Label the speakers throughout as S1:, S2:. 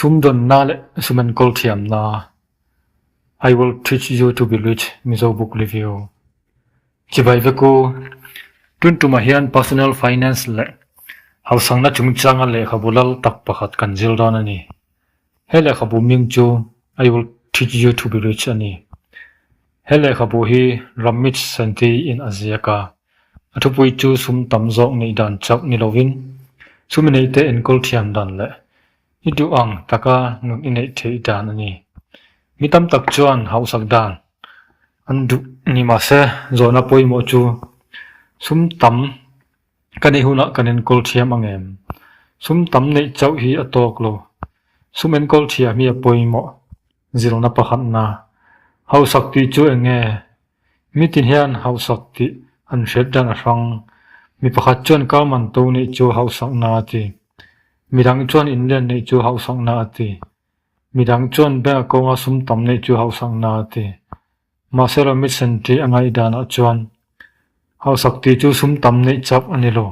S1: Sumdawnna leh sum enkawl thiamna I will teach you to be rich Mizo Book Review Chibai vek u, Tun tumah hian Personal Finance leh Harsangna chungchanga lehkhabu lal tak pakhat kan zir dawn a ni. He lehkhabu ming chu I will teach you to be rich a ni. He lehkhabu hi Ramit Sethi in a ziak a, a thupui chu sum tam zawk neih dan chauh ni lovin sum i neih te enkawl thiam dan leh i duh ang taka nun i neih theih dan a ni. Mi tam tak chuan hauhsak dan an duh ni mahse zawhna pawimawh chu sum tam Ka ni hunah kan enkawl thiam angem? Sum tam neih chauh hi a tawk lo. Sum enkawl thiah hi a pawimawh zirna pakhatna. Hausak tih chu eng nge? Mi ti hian hausak tih an hriat dan a hrang. Mi pakhat chuan kal man to neih chu hausakna a ti. Mi dang chuan inlian neih chu hausakna a ti. Mi dang chuan bank account a sum tam neih chu hausakna a ti. Mahse lo mitsen tih a ngaih danah chuan hausak tih chu sum tam neih chap a ni lo.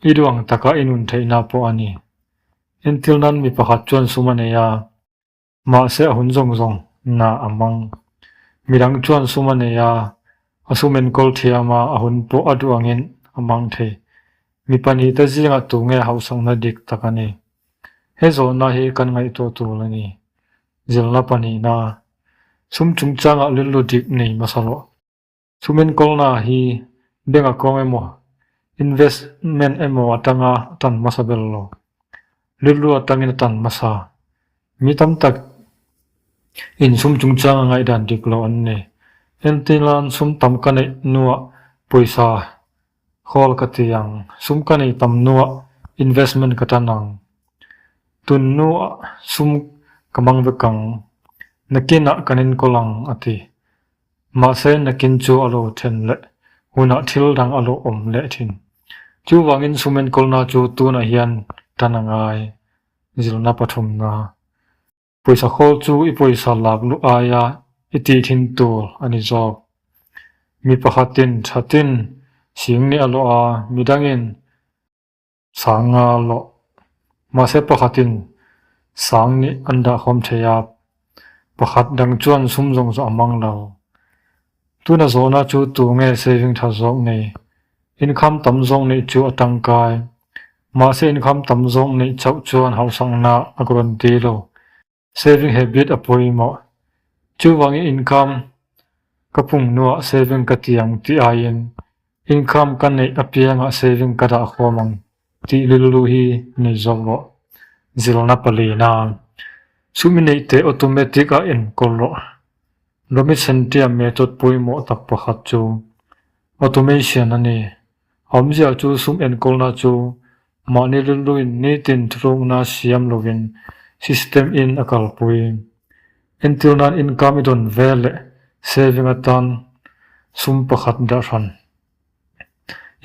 S1: I luang taka i nun theihna pawh a ni. Entir nan mi pakhat chuan sum a nei a, mahse a hun zawng zawng na a mang. Mi dang chuan sum a nei a, a sum enkawl thiam a, a hun pawh a duangin a mang thei. Mi pahnih te zingah tu nge hausakna dik tak a ni. He zawhna hi kan ngaihtuah tur a ni. zirna pahnihna sum chungchangah rilru dik nei hmasa loh. Sum enkawlnaah hi bank account emaw, investment emaw atanga a tan hmasa ber lo. Rilru atangin a tan hmasa. Mi tam tak in sum chungchanga ngaihdan dik loh an nei. Hentilain sum tam ka neih hnuah pawisa Call ka ti ang, sum ka nei tam nuah investment ka tan ang. Tun nu ah sum ka mang vek ang, nakin ah kan enkawl ang a ti. Mahse nakin chu a lo then leh, hunah thil dang a lo awm leh thin. Chuvangin sum enkawlna chu tunah hian tan a ngai, zirna pathum nga. Pawisa khawl chu i pawisa lak luh aia i tih thin tur a ni zawk. Mi pakhatin thatin sing ni a lawh a, midangin sang nga lawh. Mahse pakhatin sang ni an dahkhawm thei a, pakhat dang chuan sum zawng zawh a hmang lo. Tuna zawhna chu tu nge saving tha zawk ni? Income tam zawng nih chu a tangkai. Mahse income tam zawng nih chauh chuan hausakna a guarantee lo. Saving habit a pawimawh. Chuvangin income ka phung hnuah saving ka ti ang ti aiin income ka neih apiangah saving ka dah khawm ang. Tih rilru hi nei zawh rawh. Zilna pali na. Sumi neih teh automatic a enkawl rawh. Rami chhantiam method pawimawh tak pakhat chu automation a ni. Awmzia chu sum enkawlna chu mahni rilruin nitin thlukna siam lovin system in a kalpui. Entir nan income i dawn ve leh saving atan sum pakhat dahrhan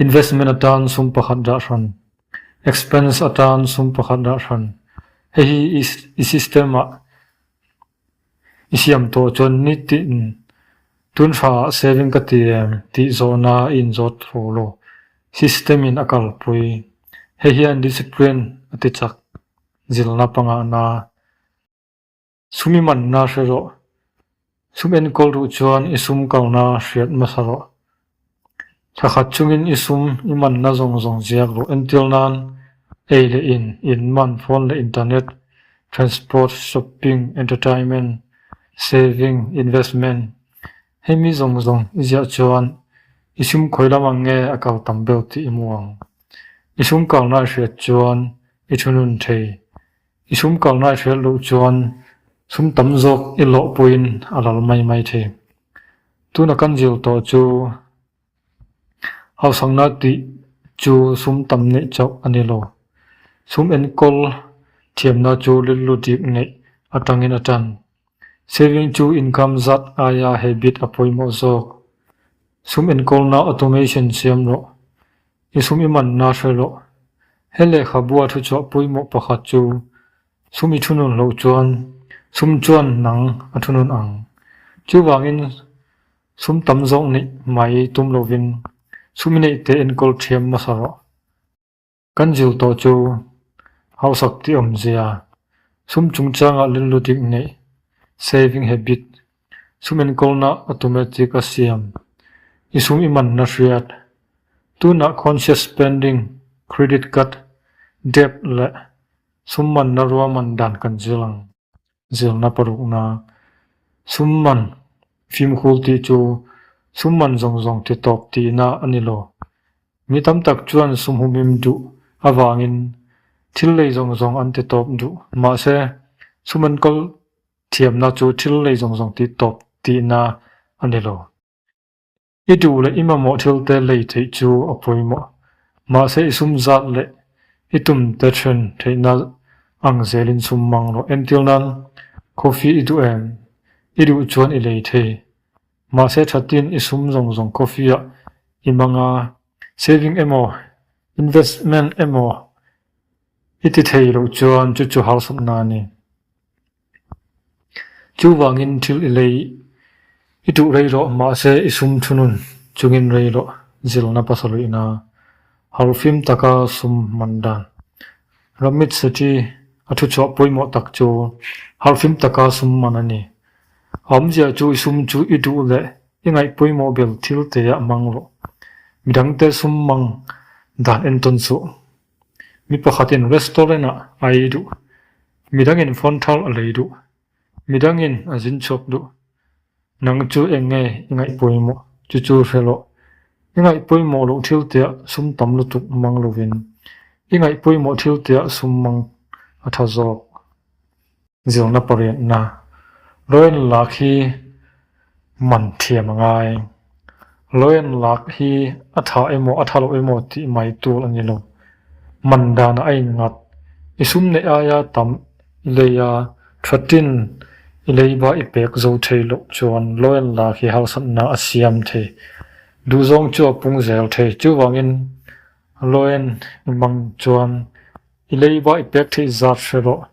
S1: Investment atan sum pakhat dah hran, expense atan sum pakhat dah hran. Hei hi i system ah i siam tawh chuan ni tin tunhrang ah saving ka ti em tih zawhna i inzawt tho lo. System in a kalpui. Hei hian discipline a tichak zilna pangngai na. Sumi manna hre rawh. Sum enkawl ruh chuan i sum kalna hriat hmasa rawh. Thla khat chungin i sum, i manna zawng zawng ziak rawh. Entir nan, ei leh in, in man, phone leh internet, transport, shopping, entertainment, saving, investment, hemi zawng zawng i ziah chuan i sum khawi lam ang nge a kal tam beuh tih i mu ang. I sum kalna hriat chuan i thunun thei I sum kalna i hriat loh chuan sum tam zawk i lawhpuiin a lal mai mai thei. Tuna kan zir tawh chu hausakna tih chu sum tam neih chauh a ni lo. Sum enkawl thiamna chu rilru dip neih atangin a tan. Saving chu income zat aia habit a pawimawh zawk. Sum enkawlna automation siam rawh. I sum i manna hre rawh. He lehkhabua thuchhuah pawimawh pakhat chu sum i thu nun loh chuan sum chuan nang a thu nun ang. Chuvangin sum tam zawng neih hmai tum lovin sum i neihte enkawl thiam hmasa rawh. Kan zir tawh chu hausak tih awm zia, sum chungchangah lunluting neih, saving habit, sum enkawlna automatic a siam, i sum i manna hriat, tunah conscious spending, credit card, debt leh sum manna ruaman dan kan zir ang. Zirna parukna, Summan, fimkhul tih chu summan zawng zawng ti tawp tihna a ni lo. Mi tam tak chuan sumhumim duh avangin thil lei zawng zawng an ti tawp duh. Mahse, sum enkawl thiamna chu thil lei zawng zawng ti tawp tihna a ni lo. I duh leh i mamawh thil te lei theih chu a pawimawh. Mahse i sum zat leh i tum te then theihna ang zelin sum mang rawh. Entir nan, coffee i duh em? I duh chuan i lei thei. Mahse tha tin i sum zawng zawng coffee ah i mang a, saving emaw, investment emaw i ti thei loh chuan chu chu harsatna a ni. Chuvangin thil i lei i tuh rei rawh, mahse i sum thu nun chungin rei rawh zilna pasaluihna har fim taka sum man dan. Ramit Sethi a thuchhuah pawimawh tak chu har fim taka sum man a ni. A awmzia chu i sum chu i duh leh i ngaih pawimawh ber thil teia hmang rawh. Midangte sum mang dan entawn suh. Mi pakhatin restaurant ah a ei duh, midangin phone thar a lei duh, midangin a zin chhuak duh. Nang chu eng nge i ngaih pawimawh? Chu chu hre loh. I ngaih pawimawh loh thil teh sum tam lutuk mang lovin, i ngaih pawimawh thil teh sum mang a tha zawk. Zirna pariatna Loyang lak hi man thiam a ngai. Loyang lak hi a tha emaw a tha loh emaw tih mai tur a ni lo. Man dan a innghat, i sum neih ai a tam i lei a, tha tin i leiba i pek zo thei loh chuan loyang lak hi harsatna a siam thei. Duhzawng chu a pung zel thei chuvangin loyang i mang chuan I leiba i pek theih zat hre rawh,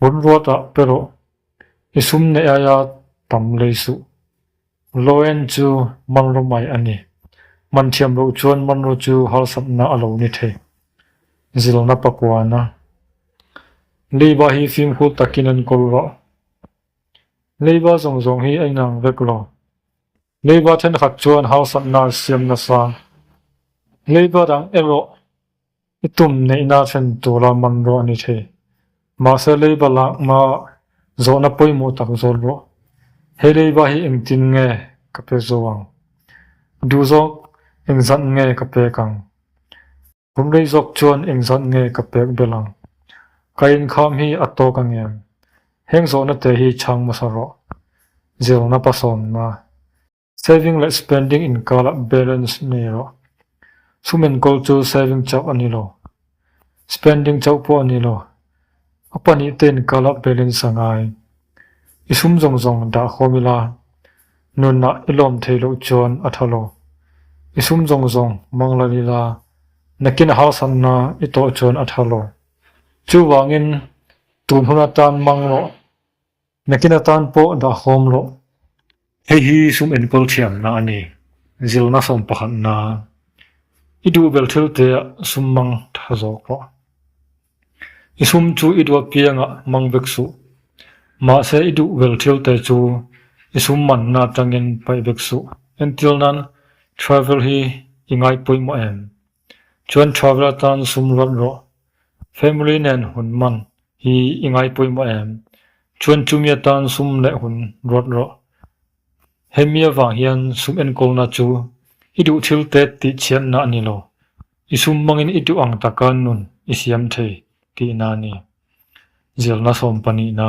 S1: hun ruata pe rawh, i sum neih aia tam lei suh. Loen chu Manro mai a ni. Man thiam loh chuan Manro chu harsatna a lo ni thei. Zilna pakuana. Leiba hi fimkhul takin an kawl rawh. Leiba zawng zawng hi a inang vek lo. Leiba thenkhat chuan harsatna an siam nasa. Leiba dang erawh I tum neihna fen tura man rawh a ni thei. Mahse leiba lak hma zawhna pawimawh tak zawt rawh. He leiba hi engtin nge ka pe zo ang? Duh zawk eng zanh nge ka pek ang? Kum rei zawk chuan eng zanh nge ka pek belh ang? Ka inkham hi a tawk angem? Heng zawhna te hi chhang hmasa rawh. Zirna pasawmna. Saving leh spending inkala balance a ni lo. Chhum enkawl chu saving chauh a ni lo. Spending chauh pawh a ni lo. A pahnih te inkala balance a ngai. I sum zawng zawng dah khawm ila, nunah i lawm thei loh chuan a tha lo. I sum zawng zawng hmang lal ila, nakin a harsatna i tawh chuan a tha lo. Chuvangin, tu hmun atan hmang rawh, Nakin atan pawh dah hawm loh. Hei hi sum enkawl thiamna a ni. Zilna sawm pakhat na. I duh bel thil teah sum mang tha zawh pawh. I sum chu i duak kiangah mang vek suh. Mahse i duh bel thil te chu i sum manna atangin paih vek suh. Entir nan travel hi i ngai pawimawh em? Chuan travel atan sum rawlh rawh, family nen hun man hi i ngai pawimawh em? Chuan chumi atan sum leh hun rawlh rawh, hemi avang hian sum enkawlna chu i duh thil te tih chianna a ni lo, i sum mangin i duh ang taka nun i siam thei tihna a ni. Zirna sawm panihna.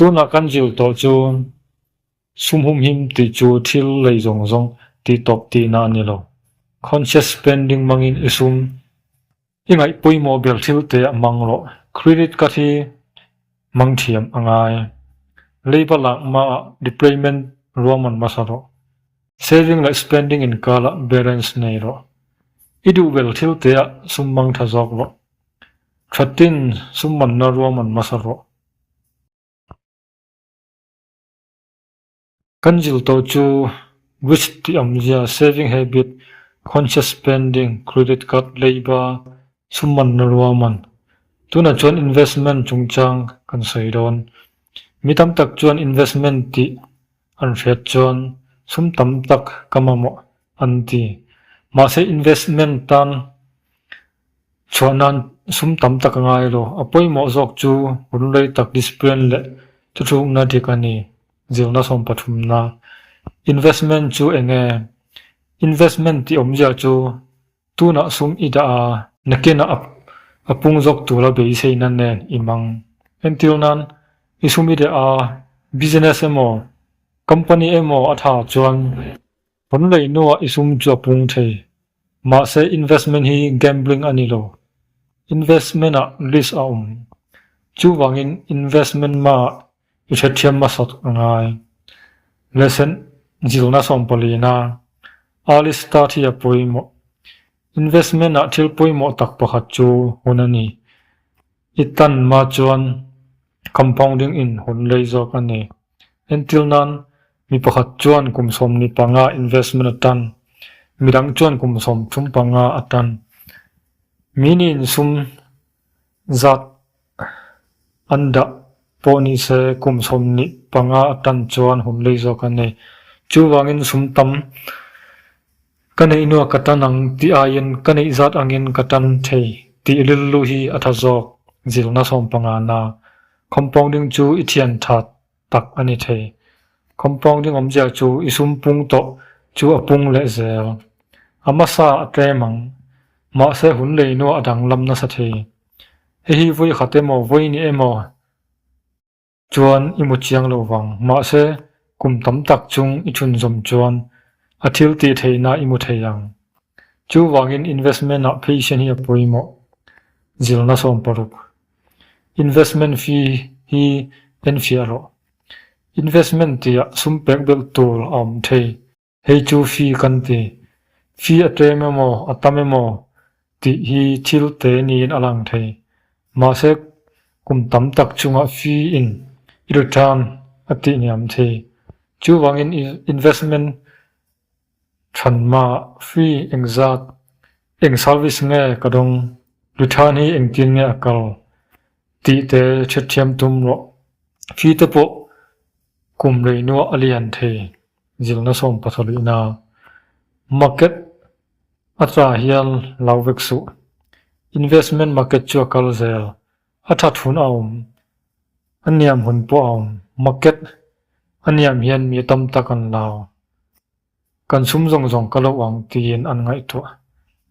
S1: Tunah kan zir tawh chu sumhumhim tih chu thil lei zawng zawng tihtawp tihna a ni lo. Conscious spending mangin i sum, i ngaih pawimawh ber thil te a mang rawh, credit card hi mang thiam a ngai. Leiba lak hmaah repayment ruahman hmasa rawh. Saving leh spending inkalah balance nei rawh. I duh ber thil te ah sum mang tha zawk rawh. Thatin summanna ruahman hmasa rawh. Kan zir tawh chu Wish tih awmzia, Saving Habit, Conscious Spending, Credit Card, Leiba, Summan na ruaman. Tunah chuan Investment chungchang kan sawi dawn. Mi tam tak chuan Investment tih an hriat chuan sum tam tak ka mamawh an ti. Mahse Investment tan Chhuah nan sum tam tak a ngai lo. A pawimawh zawk chu runrei tak discipline leh thuchhukna dik a ni. Zirna sawm pathumna. Investment chu eng nge? Investment tih awmzia chu tunah sum i dah a. Nakina a a pung zawk tura beiseina nen i mang. Entir nan i sum i reh a, business emaw, company emaw a tha chuan. Pawn lei nua i sum chu a pung thei. Mahse investment hi gambling a ni lo. Investment ah risk a awm. Chuvangin investment ma i hrethiam hmasat ngai. Lesson zirna sawmpawlina early start hi a pawimawh. Investment ah thil pawimawh tak pakhat chu hun a ni. I tan ma chuan compounding in hun lei zawk a ni. Entir nan mi pakhat chuan kum sawmni panga investment a tan, mi dang chuan kum sawm thum panga a tan. Mihni insum zat an dah pawh ni se kum sawmni panga a tan chuan humlei zawk a ni. Chuvangin sum tam Ka neih nuaih ka tan ang tih aiin ka neih zat angin ka tan thei tih rilru hi a tha zawk zilna sawmpanga na. Compounding chu i thian tha tak a ni thei. Compounding awm ziah chu i sum pung tawh chu a pung leh zel. A hmasa a tlem ang, mahse hun lei nuaih a danglam nasa thei. Hei hi vawi khat emaw vawi ni emaw? chuan i mu chiang lo vang. Mahse, kum tam tak chung i chhunzawm chuan a thil tih theihna i mu thei ang. Chuvangin investment-ah patient hi a pawimawh, zilna sawm paruk. Investment fee hi enfiah rawh. Investment tia sumpek belh tur a awm thei. Hei chu fee kan ti. Fee a ṭem emaw, a tam emaw tih hi thil te niin a lang thei. Mahse, kum tam tak chungah fee in i return a tihniam thei. Chuvangin i investment ṭhan mah fee eng zat, eng service nge ka dawng, return hi engtin nge a kal tih te hrethiam tum rawh. Fee te pawh kum reinuah a lian thei. Zilna sawm pathawlihna market a cha hian lo vek suh. Investment market chu a kal zel, a that hun a awm, a niam hun pawh a awm. Market a niam hian mi tam tak an la, kan sum zawng zawng ka lo ang tiin an ngaihtuah.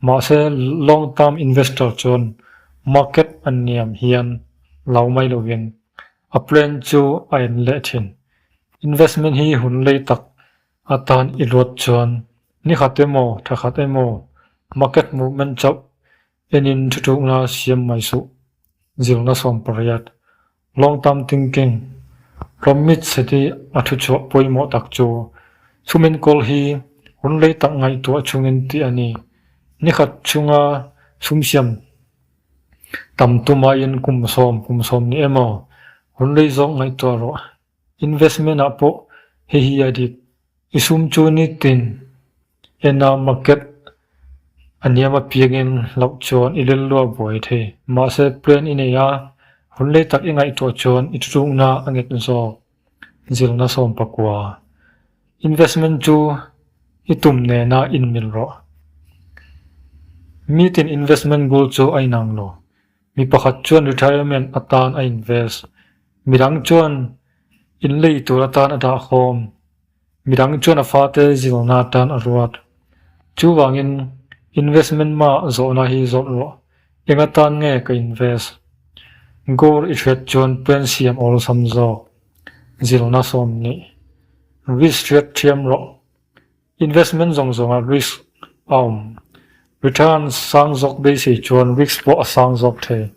S1: Mahse long term investor chuan market a niam hian lo mai lovin a plan chu a en leh thin. Investment hi hun lei tak atan i luat chuan ni khat emaw tha khat emaw market movement chauh enin thu thukna siam mai suh zirna sawmpariat, long term thinking, rawmit seti a thu chhuah pawimawh tak chu thumin kawl hi hun lei tak ngaihtuah chungin tih a ni. Ni khat chunga sumsiam Tam tum aiin kum sawm kum sawm ni emaw, hun rei zawk ngaihtuah rawh. Investment ah pawh hei hi a dik. I sum chu nitin ena market a niam apiangin loh chuan i lel luah buai thei. Mahse plan i nei a, hun rei tak i ngaihtuah chuan i ṭuṭukna a nghet zawk. Zirna Sawmpakua, Investment chu i tum nena inmil rawh. Mi tin investment goal chu a inang lo. Mi pakhat chuan retirement atan a invest. Mi dang chuan inlei tur atan a dahkhawm. Midang chuan a fate zilna atan a ruat. Chuvangin investment ma zawhna hi zawrh rawh, enga tan nge ka invest? Gold i hriat chuan pen siam awlsam zawk zilna sawm nih. Risk hriat thiam rawh. Investment zawng zawnga risk a awm. Return sang zawk beisei chuan risk pawh a sang zawk thei.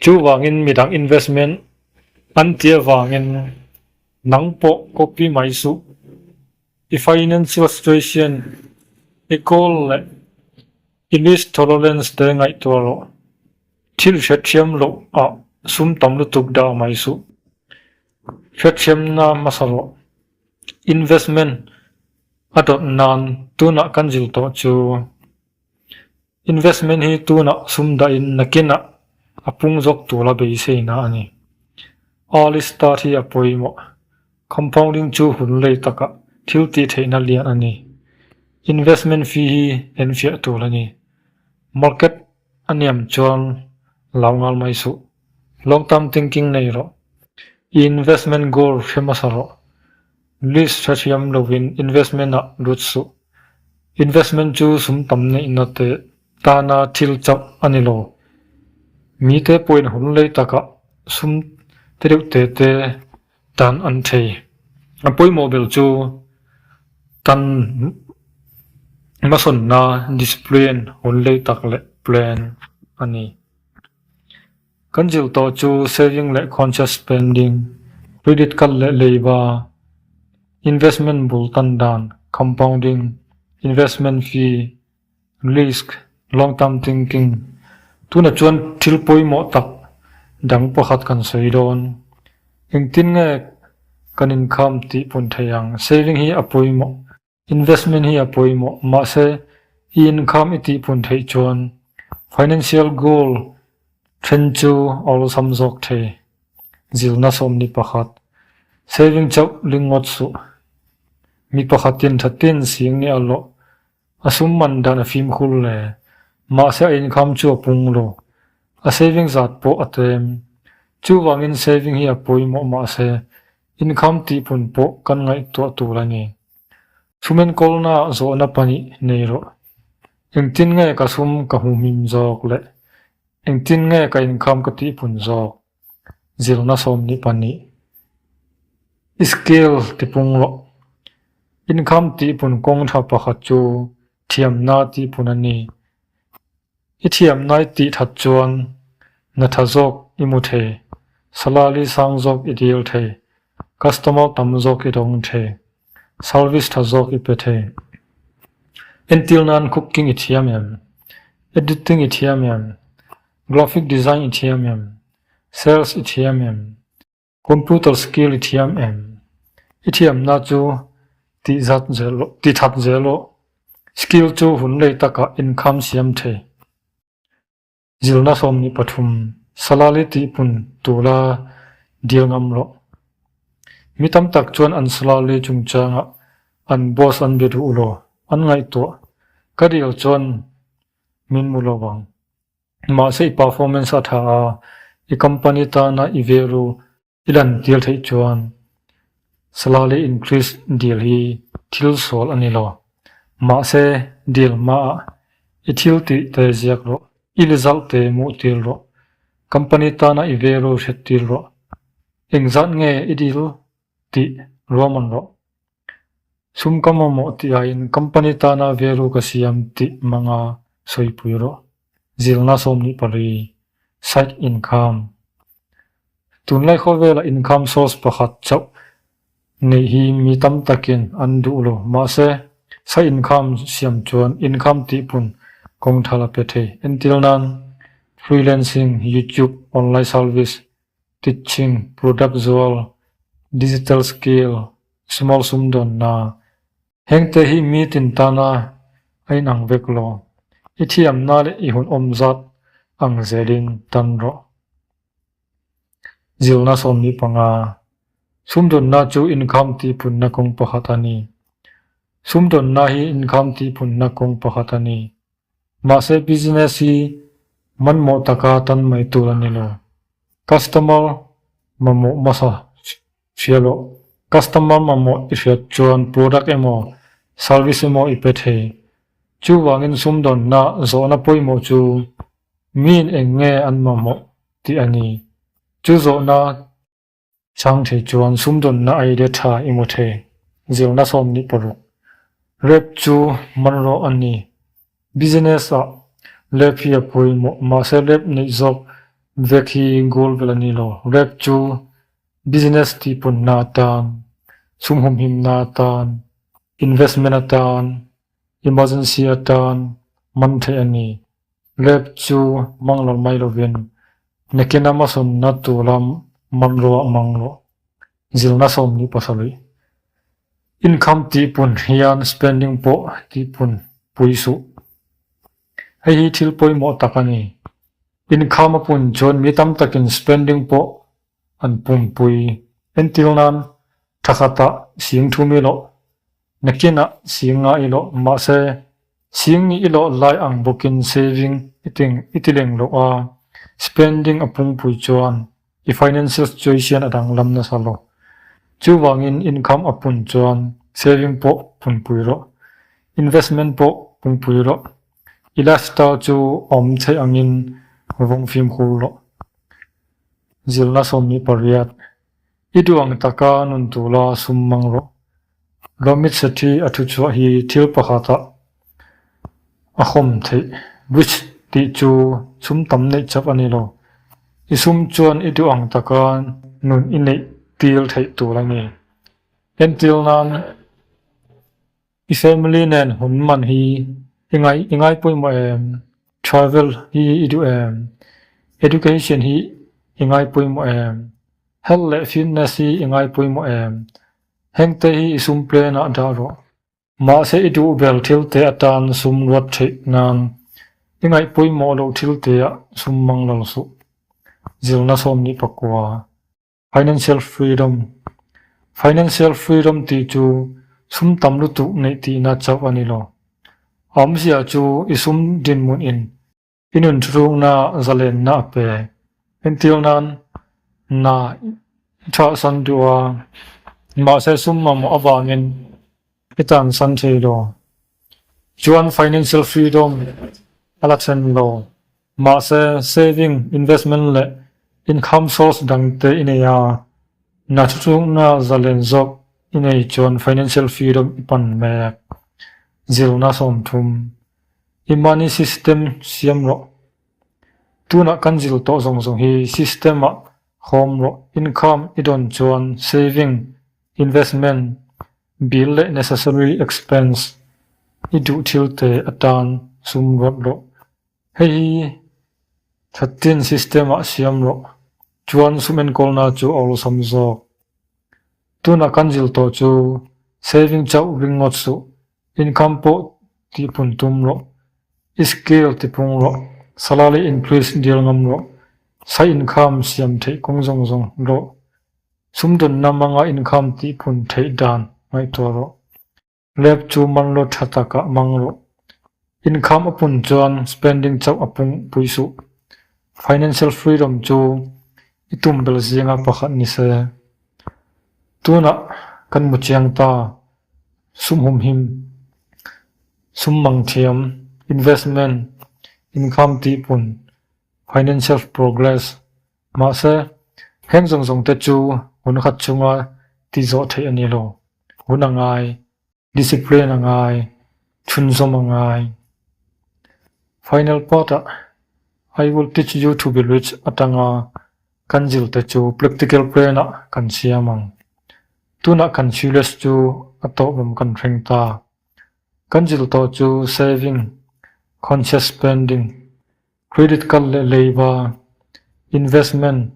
S1: Chuvangin midang investment an ti avangin. Nang pawh copy mai suh. I financial situation i goal leh i risk tolerance te ngaihtuah rawh. Thil hrethiam loh a sum tam lutuk dah mai suh. Hrethiamna hmasa rawh. Investment a dawt nan tunah kan zir tawh chu. Investment hi tunah sum dahin nakinah a pung zawk tura beiseina a ni. Early start hi a pawimawh. Compounding chu hun lei takah thil tih theihna lian a ni. Investment fee hi en fiah tur a ni. Market a niam chuan lau nghal mai suh. Long term thinking nei rawh. I investment goal hre hmasa rawh. Risk tha thiam lovin investment ah lut suh. Investment chu sum tam neihna teh tana thil chauh a ni lo. Mite pawhin hun lei takah sum te deuh teh te tan an thei. A pawimawh ber chu kan hmasawnna, discipline, hun lei tak leh plan a ni. Kan zir tawh chu saving leh conscious spending, credit kal leh leiva, investment bul tan dan, compounding, investment fee, risk, long term thinking, tunah chuan thil pawimawh tak dang pakhat kan sawi dawn. Engtin nge kan inkham tih pun theih ang, saving hi a pawimawh. Investment hi a pawimawh, mahse, i income i tihphun theih chuan financial goal then chu a awlsam zawk thei. Zirna sawm ni pakhat, saving chauh ringawt suh. Mi pakhatin thatin sing ni a lawh, a sum man dan a fimkhur le, mahse a income chu a pung lo, a saving zat pawh a tem. Chuvangin saving hi a pawimawh mahse, Inkham tihpun pawh kan ngaihtuah tur a ni. Thumen kawlna zawhna pahnih nei rawh. Engtin nge ka sum ka hmu hmim zawk leh engtin nge ka inkham ka tihpun zawk? Zirna sawmhnih pahnih. Skill tipung rawh. Inkham tihpun kawng tha pakhat chu thiamna tihpun a ni. I thiam naih tih that chuan na tha zawk i mu thei, salary sang zawk i dil thei, customer tam zawk i dawng thei, service tha zawk i pe thei. Entir nan cooking i thiam em? Editing i thiam em? Graphic design i thiam em? Sales i thiam em? Computer skill i thiam em? I thiamna chu tihzat zel law, tithat zel law, skill chu hun lei takah income siam thei. Zilna sawmhnih pathum salary tihpun tura dil ngam law. Mi tam tak chuan an salary chungchangah an boss an be duh law, an ngaihtuah ka dil chuan min mu lovang. Mahse i performance a tha a, i company tana i velu i lantir theih chuan salary increase deal hi thil sawl a ni lo. Mahse deal hmaah i thil tih te ziak rawh, i result te muh tir rawh, company tana i velu hret tir rawh, engzat nge i deal tih ruahman rawh Sum ka mamawh tihahin company tana velu ka siam tih hmanga sawipui rawh. Zilna sawmhnih pali, side income. Tunlai khaw vela income source pakhat chauh neih hi mi tam takin an duh lo. Mahse, side income siam chuan income tihpun kawngthal a pe thei. Entir nan, freelancing, YouTube, online salvise Teaching, Product zual, Digital Skill, Sumal Sumdawnna, hengte hi mi tin tana a inang vek lo. I thiamna leh i hun awm zat ang zelin tan rawh. Zirna sawmni panga, Sumdawnna chu income tihpunna kawng pakhat a ni. Sumdawnna hi income tihpunna kawng pakhat a ni. Mahse business hi manmawh taka tan mai tur a ni lo. Customer mamawh masa hria loh. Customer mamawh i hriat chuan product emaw, service emaw i pe thei. Chuvangin sumdawnna zawhna pawimawh chu miin eng nge an mamawh tih a ni. Chu zawhna. Changthei chuan sumdawnna aile tha i mu thei, zir nasawm nih pawh rawh. Rep chu man rawh a ni. Business ah Rep hi a pawimawh, mahse Rep neih zawk vek hi goal vel a ni lo. Rep chu business tihpunna atan, sumhumhimna atan, investment atan, Emergency atan man theih a ni. Lab chu hmang lo mai lovin Mekena Masawmna tu lam man ruah mang lo. Zilna sawm ni pasarih. Income tihpun hian spending pawh tihpun pui suh. Hei hi thil pawimawh tak a ni. Income a pun chuan mi tam takin spending pawh an pumpui. Entir nan tha khatah sing thu mi loh, nakinah sing nga i loh, mahse, sing ni i loh lai ang bawkin saving i teng i ti leng loh a, spending a pumpui chuan i financial situation a danglam nasa lo. Chuvangin income a pun chuan saving pawh pumpui rawh, investment pawh pumpui rawh, i lifestyle chu awm theih angin vawng fimkhur rawh. Zilna sawmni pariat, I duh ang taka nun tula sum mang rawh. Ramit Sethi a thu chuah hi thil pakhatah a khawm theih rich tih chu chhum tam neih chap a ni lo. I sum chuan i duh ang taka nun i neih til theih tur a ni. Entir nan, I family nen hun man hi i ngaih i ngai pawimawh em? Travel hi i duh em? Education hi i ngai pawimawh em? Health leh fitness hi i ngai pawimawh em? Hengte hi i sum plenah dah rawh. Mahse i duhbel thil te atan sum luat theih nan i ngaih pawimawh loh thil teah sum manglal suh. Zirna sawm nih pakua. Financial Freedom, Financial Freedom tih chu sum tam lutuk neih tihna chauh a ni lo. Awmzia chu i sum dinhmun in i nun hrukna zalenna a pe. Entir nan, Na i chahsan duh a, mahse sum mamawh avangin I tan san thei lo chuan financial freedom a la thlen lo. Mahse, saving, investment leh income source dang te i nei a, na thu chungna zalen zawk i nei chuan financial freedom i pan mek. Zirna sawm thum. I money system siam rawh. Tunah kan zir tawh zawng zawng hi system ah hawm rawh. Income i dawn chuan saving, investment Bill leh necessary expense i duh thil te atan sum rawh rawh. Hei hi thatin system ah siam rawh chuan sum enkawlna chu a awlsam zawk. Tunah kan zil tawh chu saving chauh ringawt suh, income pawh tihphun tum rawh, i scale tipung rawh, salary increase dial ngam rawh, side income siam theih kawng zawng zawng rawh. Sumdawnna manga inkham tihphun theih dan ngaihtuah rawh. Lab chu manlo tha takah mang rawh. Inkham a pun chuan spending chauh a pung pui suh. Financial freedom chu i tum bel zinga pakhat ni se. Tunah kan mu chiang ta, sumhum him, sum mang thiam, investment, inkham tihphun, financial progress, Mahse, heng zawng zawngte chu hun khat chunga ti zawh theih a ni lo. Hun a ngai, discipline a ngai, chhunzawm a ngai. Final part-ah, I will teach you to be rich atanga kan zir te chu practical plan-ah kan siam ang. Tunah kan serious chu a tawh rum kan hreng ta. Kan zir tawh chu saving, conscious spending, Credit kal leh leiba, investment,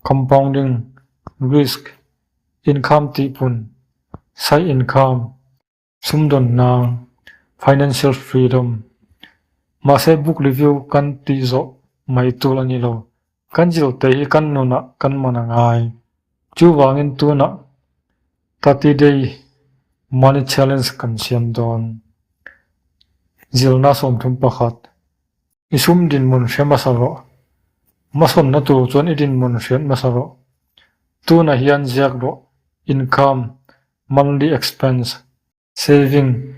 S1: compounding, risk, income tihpun, side income, sumdawn hna, financial freedom. Mahse book review kan tih zawh mai tur a ni lo. Kan zir te hi kan nunah kan man a ngai. Chuvangin tunah Thirty Day Money Challenge kan siam dawn. Zirna sawmthum pakhat. I sum dinhmun hre hmasa rawh. Hmasawnna tur chuan i dinhmun hriat hmasa rawh. Tunah hian ziak rawh, Income, Monthly Expense, Saving,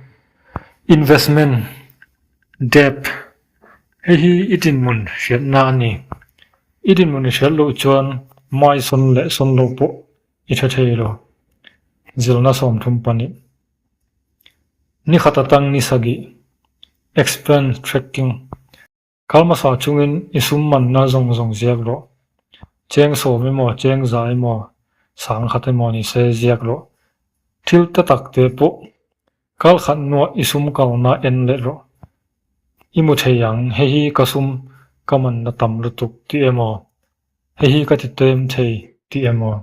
S1: Investment, Debt, hei hi i dinhmun hriatna a ni. I dinhmun i hriat loh chuan mai sawn leh sawn lo pawh i hre thei lo. Zirna sawmthum panih. Nikhat atang ni sagih, Explain Tracking, Kalmasa chungin i sum manna zawng zawng ziak rawh. Cheng sawm emaw, cheng za emaw, sang khat emaw ni se ziak rawh. Thil ta tak te pawh kal khat nuah i sum kalna en leh rawh. I mu thei ang, hei hi ka sum ka manna tam lutuk tih emaw, Hei hi ka ti tlem thei tih em aw?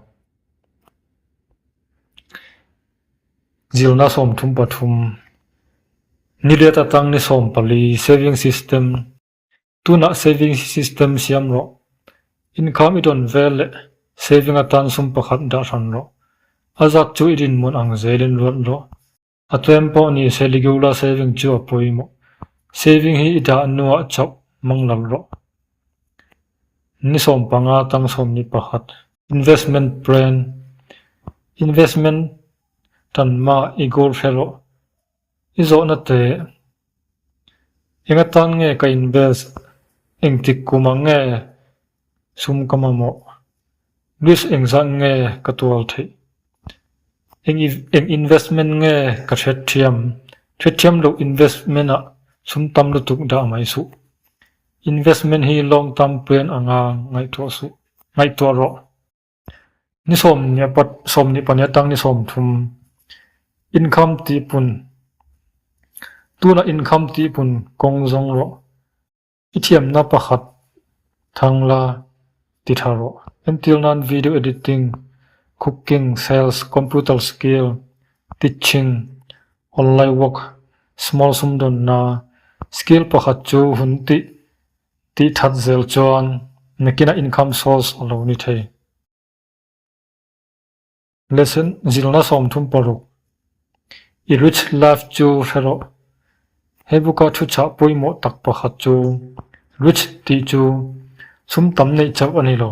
S1: Zirna sawmthum pathum, nilêt atang ni sawm pali, saving system, tunah saving system siam rawh, income i dawn vel leh saving atan sum pakhat dah hran rawh, a zak chu i rinmawnh ang zelin ruat rawh. A tlem pawh ni se Ligula saving chu a pawimawh. Saving hi i dah nuah chauh mang lo rawh. Ni sawm panga tang sawm ni pakhat. Investment plan, Investment tan mah i goal hre rawh. I zawhna teh. Enga tan nge ka invest? Engtik kum ang nge Sum ka mamawh. Risk engzah nge ka tual theih? Eng eng investment nge ka hretthiam? Hretthiam loh investment ah sum tam lutuk dah mai suh. Investment hi long term plan anga ngaihtuah suh, ngaihtuah rawh. Ni sawm ni apa sawm ni pahnih atang ni sawm thum income tihpun tunah income tihpun kawng zawng rawh. I thiamna pakhat thang la ti tha rawh. Entir nan video editing, cooking, sales, computer skill, teaching, online work, small sumdawnna, skill pakhat chu hun tih tih that zel chuan nakina income source a lo ni thei. Lesson, Zilna sawmthum paruk i rich life chu hre rawh. He buka thu chah pawimawh tak pakhat chu rich tih chu sum tam neih chauh a ni lo.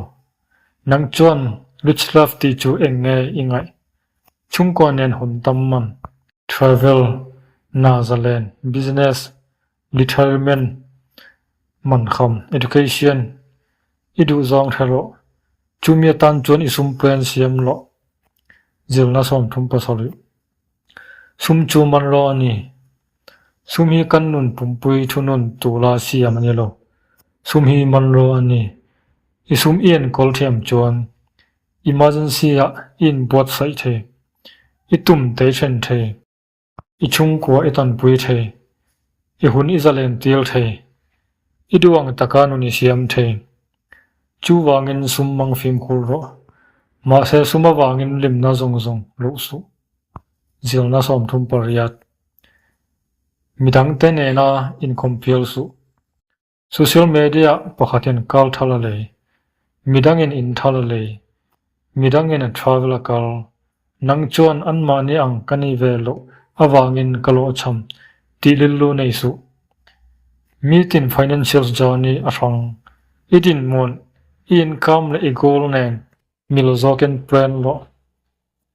S1: Nang chuan rich life tih chu eng nge i ngaih? Chhungkua nen hun tam man. Travel, Nazalen, Business, Retirement man kham, education, i duh zawng hre rawh, chumi atan chuan i sumpuia an siam loh, zirna sawmthum paw sawrih. Sum chu man rawh a ni. Sum hi kan nun pumpui thunun tula siam a ni lo. Sum hi man rawh a ni. I sum i enkawl thiam chuan emergency-ah i inbuatsaih thei, i tum tei then thei. I chhungkua i tanpui thei, i hun i zalentil thei, i duang taka nun i siam thei. Chuvangin sum mang fimkhur rawh, mahse sum avangin limna zawng zawng luh suh. Zirna sawmthum pariat. Midangte nena inkhawmpial suh. Social media pakhatin kal tha la lei, midangin in tha la lei, midangin a travel a kal, nang chuan anmahni ang ka ni ve loh avangin ka lawhchham tih lil lu nei suh. Mi tin financials journey a hrang, i dinhmun, i income leh i goal nen mi lo zawkin plan loh.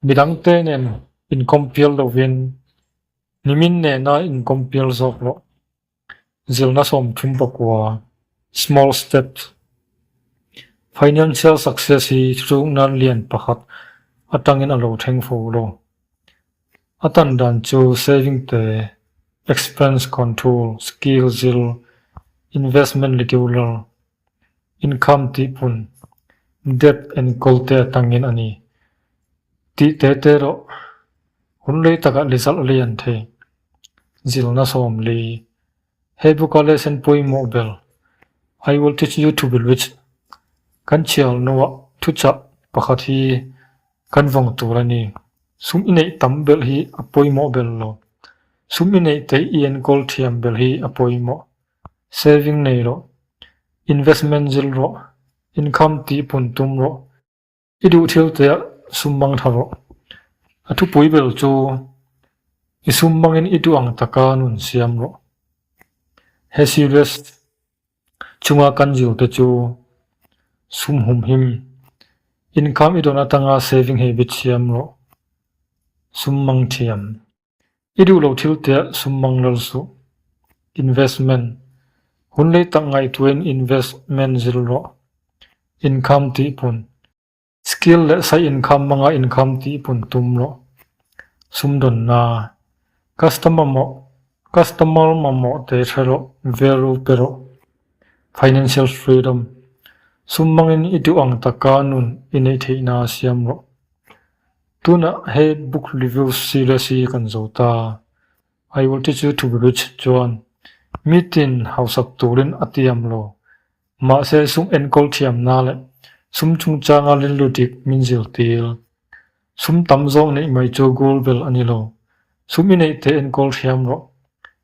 S1: Midangte nen in compare lovin nimin nena in compare zawk loh. Zirna sawm thum pakua, Small Steps, Financial success hi thuthluk nan lian pakhat atangin a lo thleng fo lo. A tan dan chu saving te, expense control, skill zir, investment regular, Income tih hmun, debt enkawl te atangin a ni. Tih te te erawh hun lei takah lizalh lei an thei. Zil na sawm lei. He book a lesson pawimawh ber, I will teach you to be rich, kan chhiar nuah thuchah pakhat hi kan vawng tur a ni. Sum i neih tam ber hi a pawimawh ber lo. Sum i neih teh i enkawl thiam ber hi a pawimawh. Saving nei rawh, investment zil rawh, income tihpun tum rawh, i duh thil teh sum mang tha rawh. A thupui ber chu i sum mangin i duh ang taka nun siam rawh. He series chunga kan zir te chu sum hum him, income i dawn atanga saving hi bit siam rawh, sum mang thiam. I duh lo thil teh sum mang lal suh. Investment, Hun lei tak ngaihtuain investment zir rawh. Income tihpun, Skill leh side income manga income tihpun tum rawh. Sumdawnna, Customer mawh, customer mamawh te hre rawh, value pe rawh. Financial freedom, Sum mangin i duh ang taka nun i neih theihna siam rawh. Tunah he book review series hi kan zo ta. I will teach you to be rich chuan mitin hausak turin a tiam lo. Mahse sum enkawl thiamna leh sum chungchanga rilrudik min zirtir sum tam zawng neih mai chu goal ber a ni lo. Sum i neih te enkawl thiam rawh,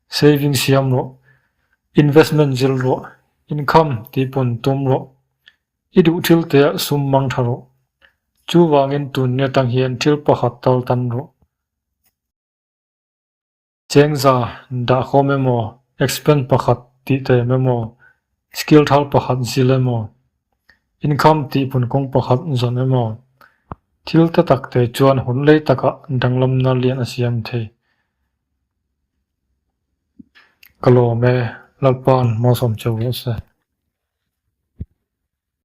S1: saving siam rawh, investment zir rawh, income tihpawn tum rawh, I duh thil te ah sum mang tha rawh. Chu vangin tun nge tang hian thil pakhat tal tan rawh. Chengza dah khawm em aw, expense pakhat tih ta em em aw, skill thal pakhat zil em aw, income tihphun kawng pakhat zawn em aw, thil te tak te chuan hun lei takah danglamna lian a siam thei. Ka lawm e, Lalpa'n hmawsam che ve se.